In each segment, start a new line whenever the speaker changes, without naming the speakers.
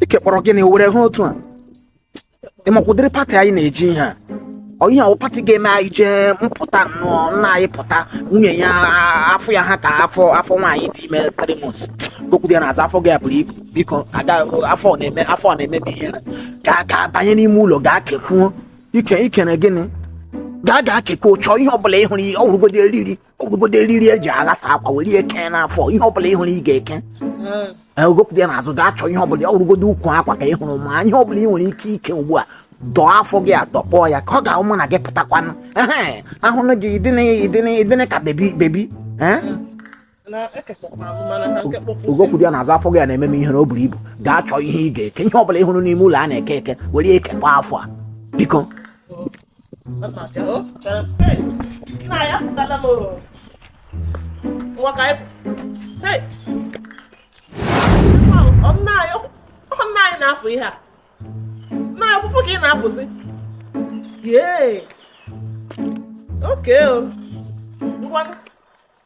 ike kpọrọ gịnị were ha otu a ịmakwa ụdịrị pati anyị na-eje ihe a ọ ihe awụ pati ga-eme anyị jee m pụta nnọọ nna anyị pụta nwunye ya afọ ya ha ka afọ afọ nwaanyị dị ime three months ugokwudie n'azụ afọ gị a buru ibu biko aga afọ ọ na-eme afọ ọ na-eme m ihere gaa gaa banye n'ime ụlọ gaa kekwuo ike ikene gịnị gaa gaa kekwuo chọọ ihe ọbụla ị hụrụ ihe ọ wụrụgodi eriri ọ wụgodo eriri eji aghasa akwa were ihe kee n'afọ ihe ọbụla ị hụrụ ị ga-eke ugokwudie n'azụ gaa chọọ ihe ọbụla ọ wụrụgodo ukwu akwa ka ị hụrụ ma ihe ọbụla ị nwere ike ike ugbu a dọọ afọ gị adọkpọọ ya ka ọ ga-awụ mụ na gị pụtakwanụ ahụnụ gị ị dịnị ka bebi bebi ugokwudie n'azụ afọ gị a na-eme m ihere na o buru ibu gaa chọọ ihe ị ga-eke ihe ọbụla ị hụrụ n'ime ụlọ a na-eke eke were ya kekwa afọ a biko
na-apụ ihe a na akwụkwọ ka ị na-apụzi yee okay o ngwanụ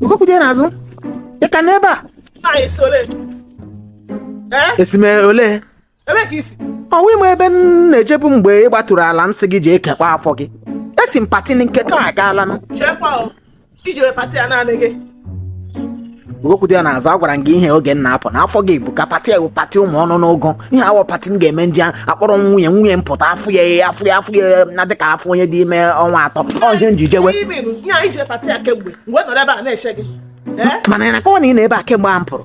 ugokwudie n'azụ ị ka nọ ebe a Nna anyị si
olee? Ee? esi m
olee Ebe ka i
si? ọ kwa ị ma ebe
m na-ejebu mgbe ị gbaturu ala m sị gị jee kekwa afọ gị esi m pati nke ka agaala na Cherekwa o.
Ijere pati a naanị gị.
ugokwudie n'azụ agwara m gị ihe oge m na-apụ na afọ gị ebuka pati a wụ pati ụmụ ọnụ n'ụgụ ihe awọ pati m ga-eme m je akpọrọ m nwunye nwunye m pụta afọ ya ya afọ ya afọ ya na-adị ka afọ onye dị ime ọnwa atọ ọ ihe m ji
jewe mana ị
na-akọwa na ị nọ ebe a kemgbe a m pụrụ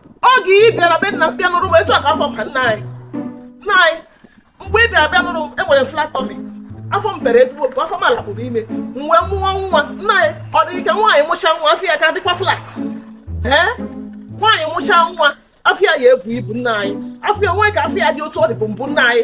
oge ị bịara be nna m bịa nụrụ m etu a ka afọ m ha nna anyị nna anyị mgbe ị bịara bịa nụrụ m enwere m flat tummy afọ m pere ezigbo mpe afọ m a na m buru ime m wee mụọ nwa nna anyị ọ dị ike nwaanyị mụcha nwa afọ ya ka dịkwa flat ee nwaanyị mụcha nwa afọ ya ya ebu ibu nna anyị afọ ya nwee ka afọ ya dị otu ọ dịbu mbụ nna anyị